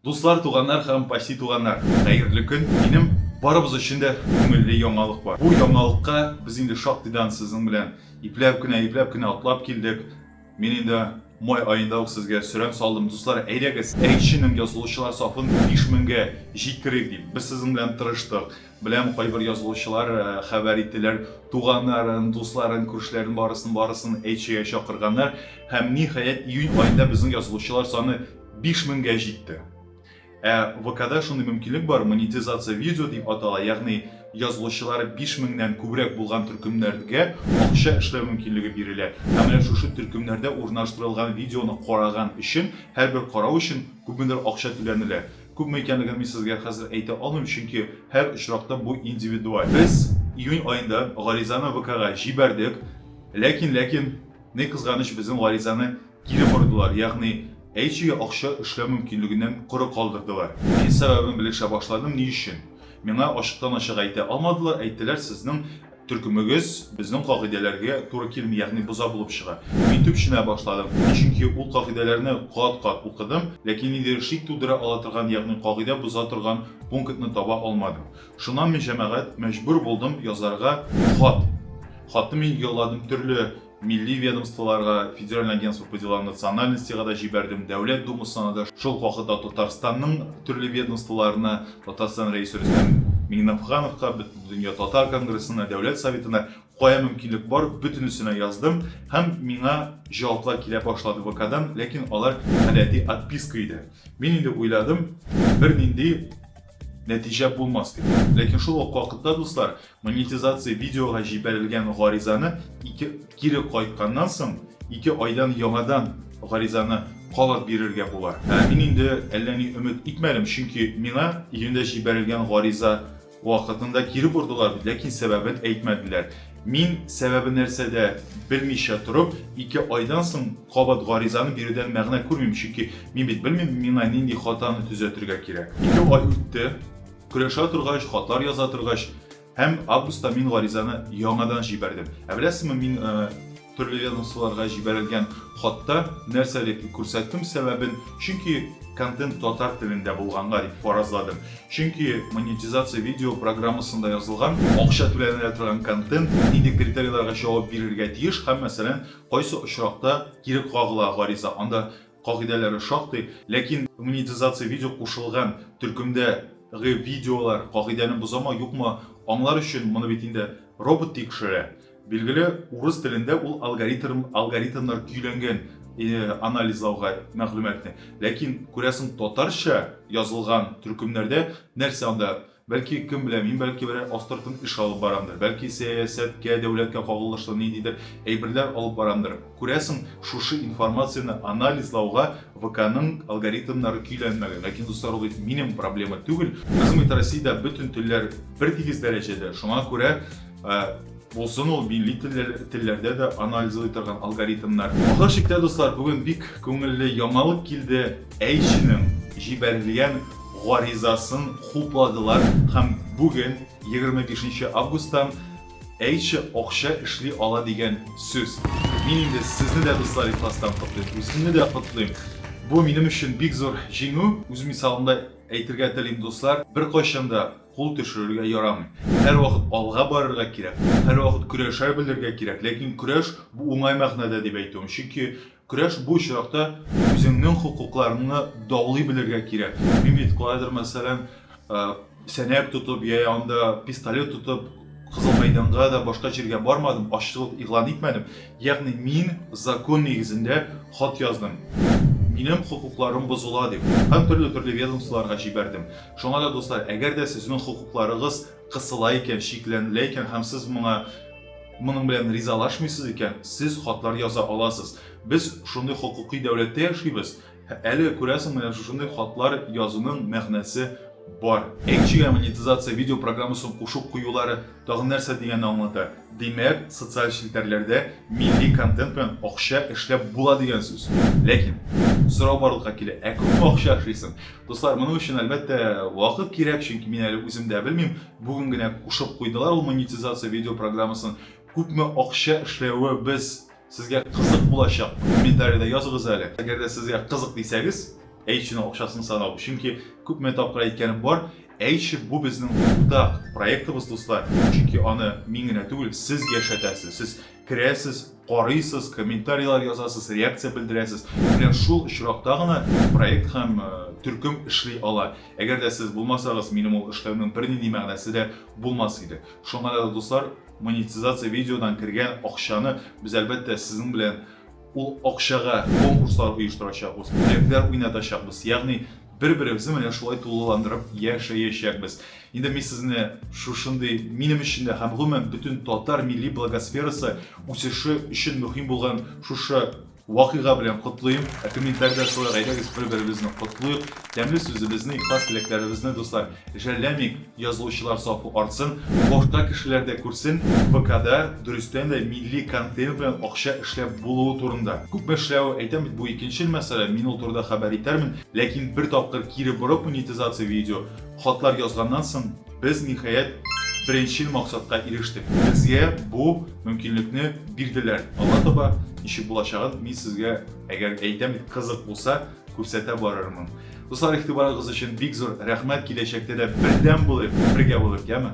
Дуслар, туганнар һәм почти туганнар, хәерле көн! Минем барыбыз өчен дә күңелле яңалык бар. Бу яңалыкка без инде шактыйдан сезнең белән ипләп кенә, ипләп кенә атлап килдек. Мин инде май аенда ук сезгә сөрән салдым, дуслар, әйдәгез, Әйтченең язылучылар сафын биш меңгә җиткерик дип. Без сезнең белән тырыштык. Беләм, кайбер язылучылар хәбәр иттеләр, туганнарын, дусларын, күршеләрен барысын-барысын Әйтчегә чакырганнар. Һәм, ниһаять, июнь аенда безнең язылучылар саны Биш меңгә җитте. Ә ВКда шундый мөмкинлек бар, монетизация видео дип атала, ягъни язылучылары биш меңнән күбрәк булган төркемнәргә акча эшләү мөмкинлеге бирелә. Һәм менә шушы төркемнәрдә урнаштырылган видеоны караган өчен, һәрбер карау өчен күпмедер акча түләнелә. Күпме икәнлеген мин сезгә хәзер әйтә алмыйм, чөнки һәр очракта бу индивидуаль. Без июнь аенда гаризаны ВКга җибәрдек, ләкин, ләкин, ни кызганыч, безнең гаризаны Кире бордылар, ягъни әйчегә акча эшләү мөмкинлегеннән коры калдырдылар. Мин сәбәбен белешә башладым, ни өчен? Миңа ачыктан-ачык әйтә алмадылар, әйттеләр, сезнең төркемегез безнең кагыйдәләргә туры килми, ягъни боза булып чыга. Мин төпченә башладым, чөнки ул кагыйдәләрне кат-кат укыдым, ләкин ниндидер шик тудыра ала торган, ягъни кагыйдә боза торган пунктны таба алмадым. Шуннан мин, җәмәгать, мәҗбүр булдым язарга хат. Хатны мин юлладым төрле милли ведомстволарга, Федеральное агентство по делам национальностига да җибәрдем, Дәүләт Думасына да, шул ук вакытта Татарстанның төрле ведомстволарына, Татарстан Рәисе Рөстәм Миңнефхановка, Бөтендөнья татар конгрессына, Дәүләт Советына кая мөмкинлек бар, бөтенесенә яздым һәм миңа җаваплар килә башлады ВКдан, ләкин алар гадәти отписка иде. Мин инде уйладым, бернинди нәтиҗә булмас дип. Ләкин шул ук вакытта, дуслар, Монетизация видеога җибәрелгән гаризаны ике кире кайтканнан соң, ике айдан яңадан гаризаны калып бирергә була. Ә мин инде әллә ни өмет итмәдем, чөнки миңа июньдә җибәрелгән гариза вакытында кире бордылар бит, ләкин сәбәбен әйтмәделәр. Мин сәбәбе нәрсәдә белмичә торып, ике айдан соң кабат гаризаны бирүдән мәгънә күрмим, чөнки мин бит белмим, миңа нинди хатаны төзәтергә кирәк. Ике ай үтте, Көрәшә торгач, хатлар яза торгач, һәм августта мин гаризаны яңадан җибәрдем. Ә беләсезме, мин төрле ведомстволарга җибәрелгән хатта нәрсә дип күрсәттем сәбәбен, чөнки контент татар телендә булганга дип фаразладым. Чөнки монетизация видео программасында язылган, акча түләнелә торган контент нинди критерийларга җавап бирергә тиеш һәм, мәсәлән, кайсы очракта кире кагыла гариза, анда Кагыйдәләре шактый, ләкин монетизация видео кушылган төркемдә гы видеолар кагыйдәне бозамы, юкмы, аңлар өчен моны бит инде робот тикшерә. Билгеле, урыс телендә ул алгоритм, алгоритмнар көйләнгән анализлауга мәгълүматны. Ләкин, күрәсең, татарча язылган төркемнәрдә нәрсә анда Бәлки, кем белә, мин бәлки берәр астыртын эш алып барамдыр, бәлки сәясәткә, дәүләткә кагылышлы ниндидер әйберләр алып барамдыр. Күрәсең, шушы информацияне анализлауга ВКның алгоритмнары көйләнмәгән. Ләкин, дуслар, ул бит минем проблема түгел. Безнең бит Россиядә бөтен телләр бертигез дәрәҗәдә, шуңа күрә, Булсын ул милли телләрдә дә анализлый торган алгоритмнар. Ахыр чиктә, дуслар, бүген бик күңелле яңалык килде, Әйшинең җибәрелгән гаризасын хупладылар һәм бүген, 25 нче августтан, Әйши акча эшли ала дигән сүз. Мин инде сезне дә, дуслар, ихластан котлыйм, үземне дә котлыйм. Бу минем өчен бик зур җиңү. Үз мисалымда әйтергә телим, дуслар, беркайчан да Кул төшерергә ярамый. Һәрвакыт алга барырга кирәк, һәрвакыт көрәшә белергә кирәк. Ләкин көрәш, бу уңай мәгънәдә дип әйтүем. Чөнки көрәш бу очракта үзеңнең хокукларыңны даулый белергә кирәк. Мимит калайдыр, мәсәлән, сәнәк тотып, я анда пистолет тотып, Кызыл мәйданга да башка җиргә бармадым, ачлык игълан итмәдем. Ягъни мин закон нигезендә хат яздым. Минем хокукларым бозыла дип. Һәм төрле-төрле ведомстволарга җибәрдем. Шуңа да, дуслар, әгәр дә сезнең хокукларыгыз кысыла икән, чикләнелә икән һәм сез моңа моның белән ризалашмыйсыз икән, сез хатлар яза аласыз. Без шундый хокукый дәүләттә яшибез. Әле, күрәсең, менә шушындый хатлар язуның мәгънәсе бар. Экчига монетизация видеопрограммасын кушып куюлары Тагын нәрсә дигәнне аңлата. Димәк, социаль челтәрләрдә милли контент белән акча эшләп була дигән сүз. Ләкин, сорау барлыкка килә, ә күпме акча эшлисең? Дуслар, моның өчен, әлбәттә, вакыт кирәк, чөнки мин әле үзем дә белмим. Бүген генә кушып куйдылар ул монетизация видео программасын. Күпме акча эшләве без Сезгә кызык булачак, комментарида языгыз әле. Әгәр дә сезгә кызык дисәгез, H-ның акчасын санау. Чөнки күпме тапкыр әйткәнем бар, H бу безнең уртак проектыбыз, дуслар. Чөнки аны мин генә түгел, сез яшәтәсез. Сез керәсез, карыйсыз, комментарийлар язасыз, реакция белдерәсез. Менә шул очракта гына проект һәм э, төркем эшли ала. Әгәр дә сез булмасагыз, минем ул эшләүнең бернинди мәгънәсе дә булмас иде. Шуңа да, дуслар, Монетизация видеодан кергән акчаны без әлбәттә сезнең белән ул акчага конкурслар оештырачакбыз, бүләкләр уйнатачакбыз, ягъни бер-беребезне менә шулай тулыландырып яшәячәкбез. Инде мин сезне шушындый минем өчен дә һәм гомумән бөтен татар милли благосферасы үсеше өчен мөһим булган шушы Вакыйга белән котлыйм! Ә комментарида шулай гайдәгез бер-беребезне котлыйк, тәмле сүзебезне, ихлас теләкләребезне, дуслар, жәлләмик, язылучылар сафы артсын, башка кешеләр дә күрсен, ВКда дөрестән дә милли контент белән акча эшләп булуы турында. Күпме эшләве, әйтәм бит, бу икенчел мәсьәлә, мин ул турыда хәбәр итәрмен, ләкин бер тапкыр кире борып монетизация видео, хатлар язганнан соң, Без, ниһаять, беренчел максатка ирештек. Безгә бу мөмкинлекне бирделәр. Алга таба ничек булачагын мин сезгә, әгәр әйтәм дип кызык булса, күрсәтә барырмын. Дуслар, игътибарыгыз өчен бик зур рәхмәт. Киләчәктә дә бердәм булыйк, бергә булыйк, яме?